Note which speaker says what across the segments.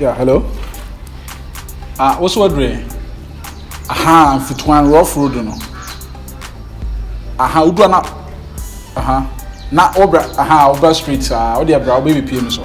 Speaker 1: Yeah, hello. Ah, what's what way? Aha, fitwan rough road no. Aha, udwa na. Aha. Na obra, aha, obra street. Ah, odi abra obi bi pie no so.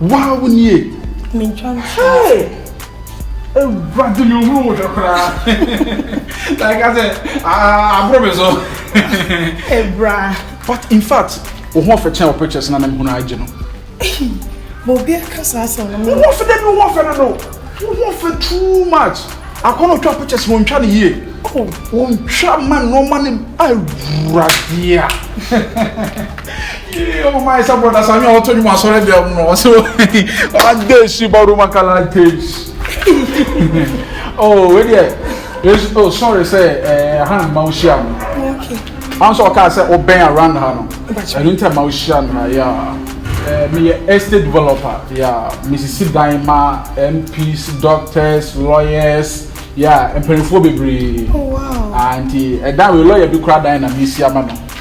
Speaker 2: Waa wo nie.
Speaker 1: Mentwa
Speaker 2: ntwa.
Speaker 1: Ewurade mi ohuru wo hwɛ koraa. Na ɛka sɛ aboro mi so.
Speaker 2: Ebra. But in fact,
Speaker 1: wo ho ɔfɛ kyɛn wɔ pictures na mɛmu na agye no.
Speaker 2: Ma obi aka saa asɛm no. Wo ho ɔfɛ dɛ bi wo ho
Speaker 1: ɔfɛ no no. Wo ho ɔfɛ too much. Akɔnɔ otwa pictures wɔn ntwa ne yie. Wɔn ntwa ma nneɛma ne awuradeɛ. Yee ɔmo maa ɛsɛ brɔda sami a ɔtɔ ne mu asɔre deɛ mu no ɔsɛ ɔadɛ esi ba roma kala days oh wei deɛ yesu oh sorry sɛ ɛɛ ha na mma ohyia no
Speaker 2: ɔn sɛ ɔkaa sɛ
Speaker 1: ɔbɛn around ha no ɛnu ntɛ mma ohyia no ha yaa ɛɛ meyɛ estate developer yaa mesisi dan ma mps doctors lawyers yaa mpanyinfoɔ bebree oh, ah
Speaker 2: nti ɛdan wei
Speaker 1: lawyer bi kura dan na mesi ama no.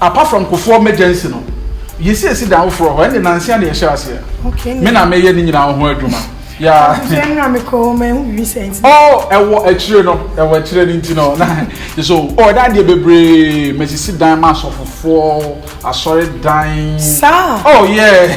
Speaker 1: Apart from Kufuor Emergency no, yɛsiesi dan foforɔ hɔ, ɛnde nansia na yɛhyɛɛ aseɛ. Me na meyɛ
Speaker 2: ne nyinaa
Speaker 1: ho adwuma. Yeah. Oh, ɛwɔ akyire no, ɛwɔ akyire no nti no, na so oh, ɛda adeɛ bebree, masisi dan ma asɔfofoɔ, asɔre dan. Saa. Oh yeah.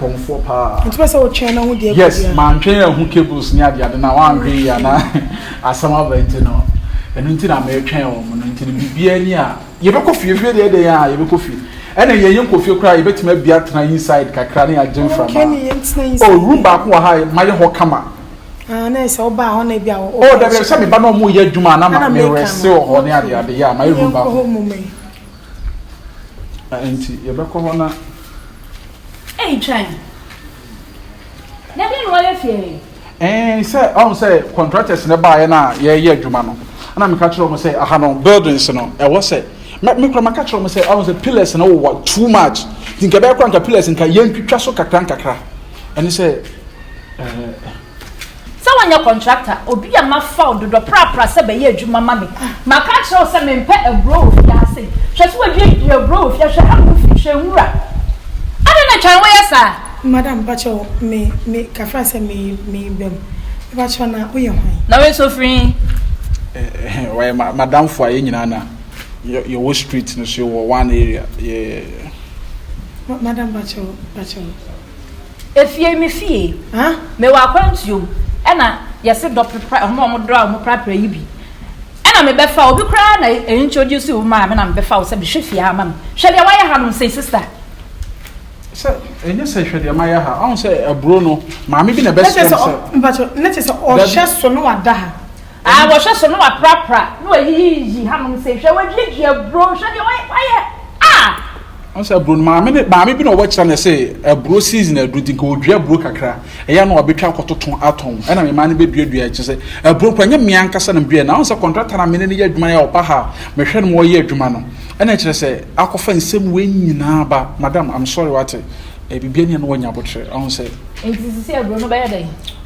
Speaker 1: kɔmfoɔ paa. Nti bɛ
Speaker 2: sɛ wotwɛn na ho deɛ yes mantwɛn ahu
Speaker 1: cables ne adeade na wantwɛn yi ana asɛm aba nti no ɛno nti na metwɛn wɔn no nti no biribiara ni a yɛbɛkɔ fie fie deɛ deɛ a yɛbɛkɔ fie ɛna yɛn yɛn kɔ fie koraa yɛbɛtumi abi atena inside kakra ne agye mframa o room baako wɔ ha mayɛ hɔ kama ah, na ɛsɛ
Speaker 2: ɔba hɔ na ebi a ɔba hɔ. ɔdɛbɛ sɛ meba na
Speaker 1: ɔmo yɛ adwuma na ma mewɛse wɔ hɔ ne adeade yɛ a mayɛ room baako. Na enti yɛbɛkɔ hɔ na.
Speaker 3: Ɛretwɛn. Na deɛ na wɔyɛ fie he? Ɛɛ sɛ
Speaker 1: ɔhu sɛ contractors no baeɛ no a yɛreyɛ adwuma no na meka kyerɛ wɔn sɛ aha no buildings no ɛwɔ sɛ me kura maka kyerɛ wɔn sɛ ɔhu sɛ pillars no wowɔ too much nti nka ɛbɛyɛ kora nka pillars nka yɛntwitwa so kakra nkakra ɛne sɛ ɛɛ.
Speaker 3: Sɛ wonyɛ kɔntrakt a, obi a mafa wo dodɔ prapra sɛ bɛyɛ adwuma ma me. Maka akyerɛ wo sɛ mempɛ aburoo wɔ fie ha sei. Hwɛ sɛ woadua dua aburoo wɔ fie ha, hwɛ ha wo fi, hwɛ nwura. Adɛn na ɛtwa a woyɛ saa? Madam, mpakyɛw,
Speaker 2: me, me, kafra sɛ me, me ba mu. Mepakyɛw na woyɛ hwan? Na wei nso ofiri
Speaker 3: he? Eh,
Speaker 1: eh, wɔyɛ ma, madamfo a yɛn nyinaa na yɛ, yɛwɔ street no so, yɛwɔ one area, yeah.
Speaker 2: Ma, madam, mpakyɛw, mpakyɛw.
Speaker 3: Efie me fie huh me wɔ akwantuo mu ɛna yɛse dɔ prepra ɔmo a ɔmo dɔ a ɔmo prapra yi bi ɛna me bɛ fa obi koraa na e introduce wo maa me na me bɛ fa wo sɛ hwɛ fie ha ma me hwɛ deɛ wayɛ ha no nsei sister.
Speaker 1: Sɛ ɛnyɛ sɛ hwɛ deɛ mayɛ ha ɔho sɛ aburo no maame bi na ɛbɛ srɛ me sɛ. Mpakyɛw ne te sɛ
Speaker 2: ɔhwɛ so na wada ha. A wɔhwɛ so
Speaker 3: na wɔaprapra na wɔayiyiyiyi hanom sei, hwɛ wɔaduadua aburo, hwɛ deɛ wɔayɛ ah! Ɔsɛ aburo
Speaker 1: no maame ne maame bi na ɔwɔ kyerɛ na ɛsɛ aburo season aduru nti nka ɔdua aburo kakra ɛyɛ a na wabɛtwa akɔtoto atɔn ɛna mmaa no bɛduadua kyɛ sɛ aburo kora nyɛ mmea ankasa na meduaɛ na ɔn sɛ kɔntrata na mene no yɛ adwuma yɛ a ɔba ha mehwɛ no ma ɔyɛ adwuma no ɛna kyerɛ sɛ akɔfa nsɛm wei nyinaa ba madam I'm sorry wate biribiara ni a na wanya abotrɛ ɔn sɛ. Nti sisi aburo no
Speaker 3: bɛyɛ dɛn?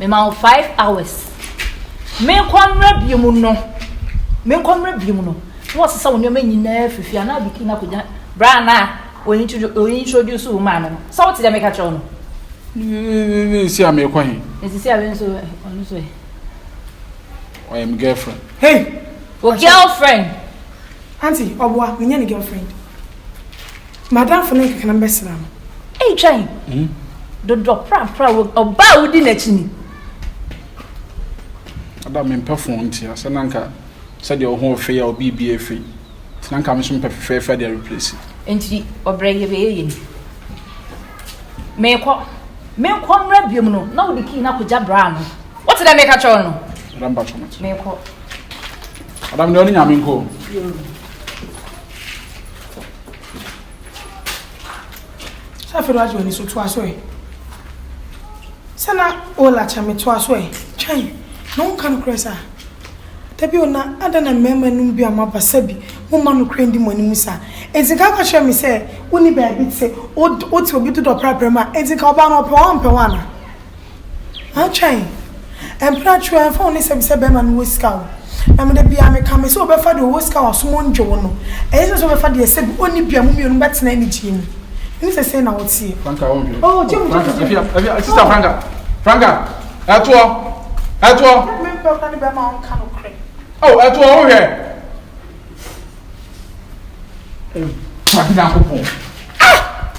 Speaker 3: mema wo five hours menkɔ mmerɛ biom no menkɔ mmerɛ biom no na wɔsesa wo nneɛma nyinaa fifi anaa biki na kɔgya bra na introduce wo maa no no sɛ wote dɛ meka kyerɛ wo no
Speaker 1: nsi a meekɔ he nsisi a wenso
Speaker 3: ɔno so
Speaker 1: ɔyɛ me girlfriend hey wo
Speaker 2: girlfriend auntie ɔboa menyɛ ne girlfriend Madamfo ne nkekena bɛsena no. Ei twɛn. Hmm?
Speaker 3: Dodɔ prapra wo ɔbaa wodi n'akyi ni.
Speaker 1: Ada mempɛ fon ntia sɛ na nka sɛdeɛ wo ho ɔfei a obi bi afei nti na nka me so mpɛ fefɛɛfɛ de replace nti ɔbrɛ yɛ
Speaker 3: bɛyɛ yɛ ni meekɔ meekɔ mmerɛ biom no na wode kii no akɔgya braa no wote dɛ meka kyɛw no
Speaker 1: meekɔ adam deɛ ɔne nyame nkɔ
Speaker 2: Sɛ afei na wagye w'ani so toa so ɛ. Sɛ na Ola kyɛ me toa so ɛ. Twɛn na wonka nokorɛ saa. Da bi o na adɛn na mmarima nom bi a moaba sɛ bi momma nokorɛ ndi mo anim saa. Enti nka ka kyerɛ me sɛ wonni baabi te, wote obi dodɔ prapra mu a, enti nka ɔbaa no ɔpɛ wo a ɔmpɛ wo anaa? Antwɛn. Mprɛ atwe a, ɛmfa ho ne sɛ bisa bɛrima no wɔ sika o. Na me da biara me ka, me se ɔbɛfa deɛ ɔwɔ sika a ɔsom wo ngye wo no. Ɛyɛ sɛ sɛ ɔbɛfa deɛ sɛ bi ɔnni bi a mo mmienu bɛ tena anigyeɛ mu. Ɛne sɛ sei na wo teɛ. Franca wo nhwɛ. Oh, gye mu, gye
Speaker 1: mu, gye mu. Franca, ɛhwɛ,
Speaker 2: ɛhwɛ, sister
Speaker 1: Franca, Franca, ɛtoɔ, ɛtoɔ.
Speaker 2: Ɛne me mpɛ kora ne bɛrima a ɔnka nokorɛ. Oh, ɛtoɔ
Speaker 1: wo nhwɛ. Awurade Nyankopɔn. Ah!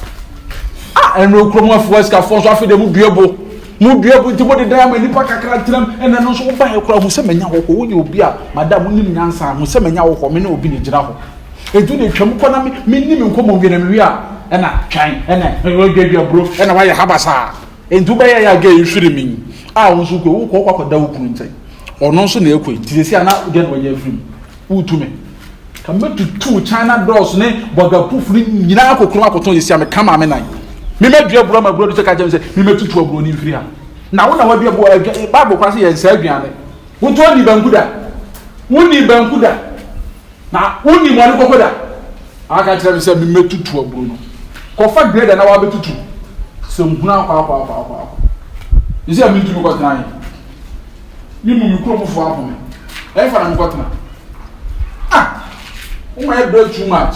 Speaker 1: Ah, ɛno kurom afoɔ asikafoɔ nso afei de mu dua bo. Mu dua bo nti mo de dan ama nipa kakra ntinam ɛna ɛno nso woba yɛ kora ho sɛ manya hɔ hɔ. Woyɛ obi a madam wonim nyansa ho sɛ manya hɔ hɔ me ne obi na gyina hɔ. Edu na atwam kɔ na me menni me nkɔmmɔ wie na mewie a ɛna twɛn ɛna ɛdwadwadwa buro ɛna wayɛ ha basaa. Nti wobɛyɛ yɛ agɛ ɛfiri me yi. A wo nso kɔ wokɔ wokɔ akɔda wo kunu nkyɛn. Ɔno nso na ɛkɔ nti sɛ sɛ ana deɛ na wɔyɛ afiri mu. Woretu me. Ka mɛtutuu China doors ne bɔdwa proof no nyinaa kokurom akɔtɔn yɛsi a meka maame nan. Me mɛdua aburo ama aburo no sɛ ka kyerɛ me sɛ me mɛtutu aburo no mfiri ha. Na wo na wadua aburo adwa eh, Bible kora sɛ yɛnsa aduane. Wotɔ ni banku da. Woni banku da. Na woni mmoa ne koko da. Aka kyerɛ me sɛ me mɛtutu aburo no. Kɔfa grader na wabɛtutu. Sɛ nhunu akɔ akɔ akɔ akɔ akɔ. Yɛsi a mentumi kɔtena he. ne mu me kurom foɔ ahome ɛfa na mekɔtena ah woma yɛ brɛ too much.